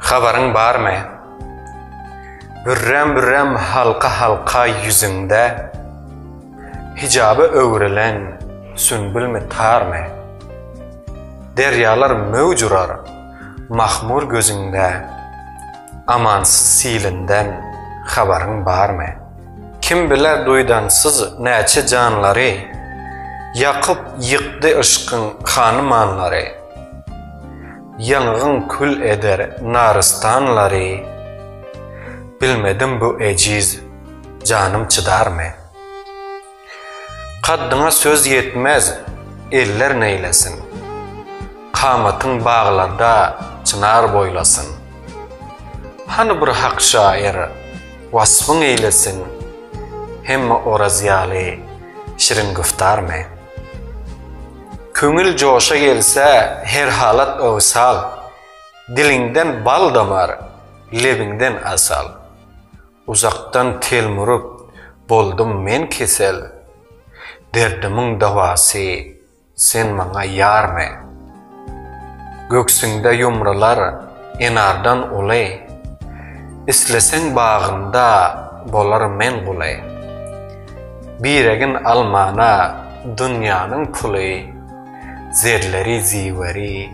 Habaryň barmy? Bürräm-bürräm halka-halka ýüzüňde Hijaba öwrülen sünbülmi tarmy? Derýalar möwj urar mahmur gözüňde Amansyz silinden habaryň barmy? Kim biler duýdansyz näçe janlary Ýakyp-ýykdy yşkyň hanymanlary. Ýangyň kül eder narystanlary. Bilmedim bu ejiz janym çydarmy? Kaddyňa söz ýetmez eller neýlesin? Kamatyň baglarda çynar boýlasyn. Hany bir hak şaýyr waspyň eýlesin? Hemme Oraz ýaly şirin güftarmy? Köňül joşa gelse her halat owsal, Diliňden bal damar, lebiňden asal. Uzakdan telmuryp, boldum men kesel, Derdimiň dawasy, sen maňa ýar men. Göksüňde ýumrular enardan uly, Isleseň bagyňda bolar men guly. Biregin almana dünýäniň puly, Zerleri ziweri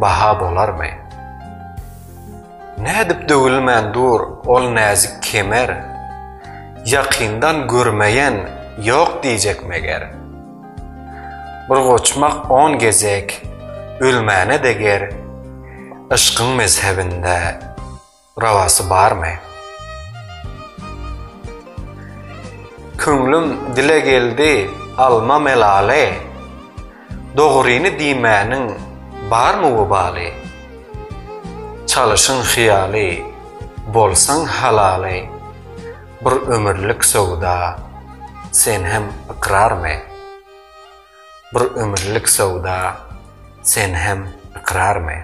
baha bolarmy? Nädip döwülmän dur ol näzik kemer, Ýakyndan görmeýän ýok diýjek meger. Bir goçmak on gezek ölmäne deger Yşkyň mezhebinde rawasy barmy? Köňlüm dile geldi alma melaly Dogryny diýmäniň barmy webaly? Çalyşyň hyýaly bolsaň halaly. Bir ömürlik söwda sen hem ykrarmy? Bir ömürlik söwda sen hem ykrarmy?